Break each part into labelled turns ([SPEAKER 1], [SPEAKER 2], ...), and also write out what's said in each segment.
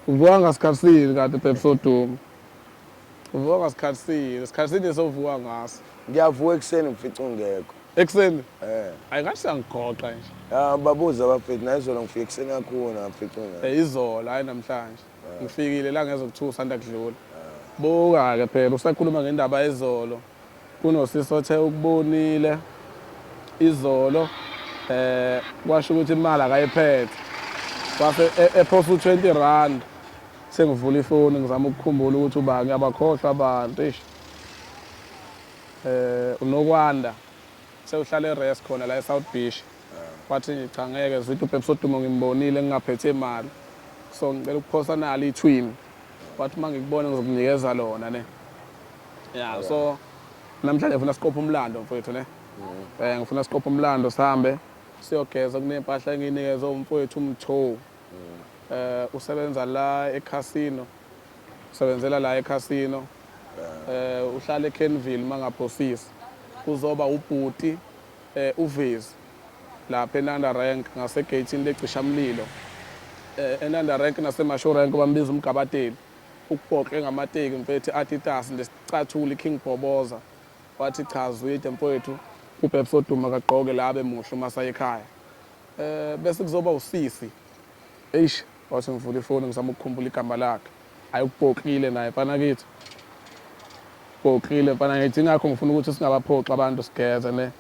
[SPEAKER 1] Uvuka ngasikhathini kanti babe soduma. Uvuka ngasikhathini, isikhathini esovuka ngaso. Ngiyavuka ekuseni
[SPEAKER 2] ngifica ungekho. Ekuseni?
[SPEAKER 1] Eh. Ayi ngathi sangighoqa nje. Ah babuza abafethu
[SPEAKER 2] naye izolo ngifike ekuseni kakhulu ngafica ungekho. Eh izolo hayi namhlanje.
[SPEAKER 1] Ngifikile la ngezokuthusa nda kudlula. Buka-ke phela usakhuluma ngendaba ezolo Kunosisi othe ukubonile izolo eh kwasho ukuthi imali akayiphethe wase e, ephosa u20 rand sengivula ifoni ngizama ukukhumbula ukuthi ubani abakhohlwa abantu ish eh unokwanda sewuhlala eRest khona la eSouth Beach wathi nje cha ngeke zithi uPepsi Odumo ngimbonile ngingaphethe imali so ngicela ukuphosa nalo ithwini wathi uma ngikubona ngizokunikeza lona ne Yeah, okay. so namhlanje ngifuna siqophe umlando mfowethu ne. Mm. Eh ngifuna siqophe umlando sihambe siyogeza kunempahla enginikeze umfowethu umtho. Mm. Eh usebenza la eCasino. Usebenzela la eCasino. Eh uhlala eKenville mangaphosisi. Kuzoba ubhuti eh uvezi lapha eNanda Rank ngasegeyithini lecishamlilo. Eh eNanda Rank naseMashu Rank bambiza umgabateli. Ukupoxe ngamateki mfethu Adidas ndesicathulo iKing Bhoboza wathi cha Zwide mfwethu uBabes Oduma kagqoke la abe muhle uma sayekhaya eh bese kuzoba usisi eish wathi ngivula ifoni ngizama ukukhumbula igama lakhe ayi ukupoxile naye mfana kithi poxile mfana ngithi ngakho ngifuna ukuthi singabaphoxi abantu sigeze ne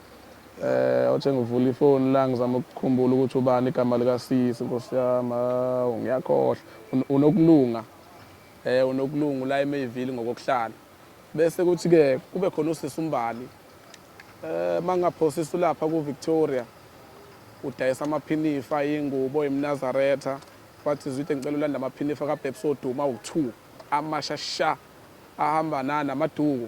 [SPEAKER 1] Eh othe ngivula ifoni la ngizama ukukhumbula ukuthi ubani igama lika sisi Nkosi yami hawu ngiyakhohlwa Un- unokulunga eh unokulunga ula eMayville ngokokuhlala bese kuthi ke kube khona usisi umbali eh mangaphosisa ulapha ku Victoria udayisa amaphinifa ingubo imnazaretha wathi zwide ngicela ulanda amaphinifa kaBabes oduma u2 amasha sha ahamba nana maduku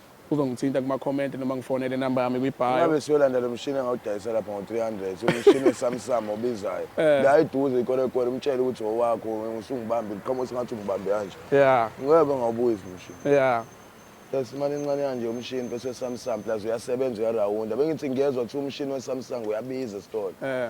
[SPEAKER 1] uzongithinta kuma-comment noma ngifonele inamba yami kwi-bio ngabe siyolanda lo mshini
[SPEAKER 2] engawudayisa lapha ngo-300 umshini wesamsam obizayo Eh. la eduze ikwerekwere umtshele ukuthi owakho usungibambe liqhamuka sengathi ungibambe kanje ya ngeke
[SPEAKER 1] ngawubuyisa
[SPEAKER 2] umshini ya
[SPEAKER 1] yes imali
[SPEAKER 2] encane kanje umshini bese wesamsam plus uyasebenza uyarawunda bengithi ngiyezwa kuthiwa umshini wesamsung uyabiza esitolo eh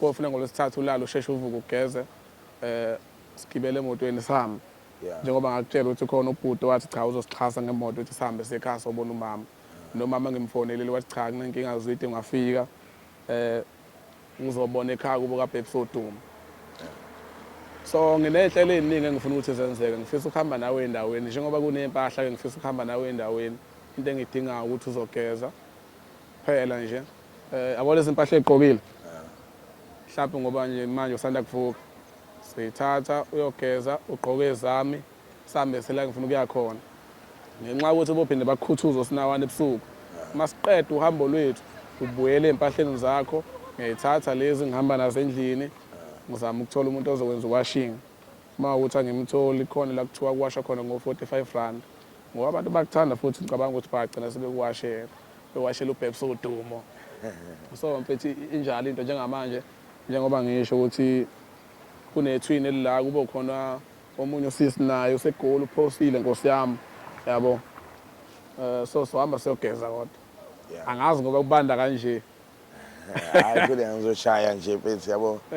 [SPEAKER 1] kofuna ngolwesithathu ulale usheshe uvuke ugeze um sigibele emotweni sihambe njengoba ngakutshela ukuthi khona ubhuti wathi cha uzosixhasa ngemoto ukuthi sihambe siyekhaya sobona umama nomama ngimfonelile wathi cha kunenkinga zwide ngafika um eh, ngizobona ekhaya kubo kabheki soduma so nginey'nhlelo ey'ningi engifuna ukuthi zenzeke ngifisa ukuhamba nawe endaweni njengoba kuney'mpahla-ke ngifisa ukuhamba nawe endaweni into engidingayo ukuthi uzogeza Phela nje eh yabo lezi impahla egqokile. Mhlawumbe ngoba nje manje usanda kuvuka. Sithatha uyogeza ugqoke ezami sambe sela ngifuna ukuya khona. Ngenxa yokuthi bophinde bakukhuthuza osinawana ebusuku. Masiqeda uhambo lwethu ubuyele ezimpahleni zakho ngiyayithatha lezi ngihamba nazo endlini ngizama ukuthola umuntu ozokwenza uwashing. Uma ukuthi angimtholi khona la kuthiwa kuwasha khona ngo-45 rand ngoba abantu bakuthanda futhi ngicabanga ukuthi bagcina sebekuwashela bewashela uBabes udumo so mfethu injalo into njengamanje njengoba ngisho ukuthi kunethwini elila kube khona omunye usisi naye usegoli uphosile nkosi yami yabo um so sohamba siyogeza kodwa angazi
[SPEAKER 2] ngoba
[SPEAKER 1] kubanda
[SPEAKER 2] kanje hayi kule ngizoshaya nje
[SPEAKER 1] mfethu
[SPEAKER 2] yabo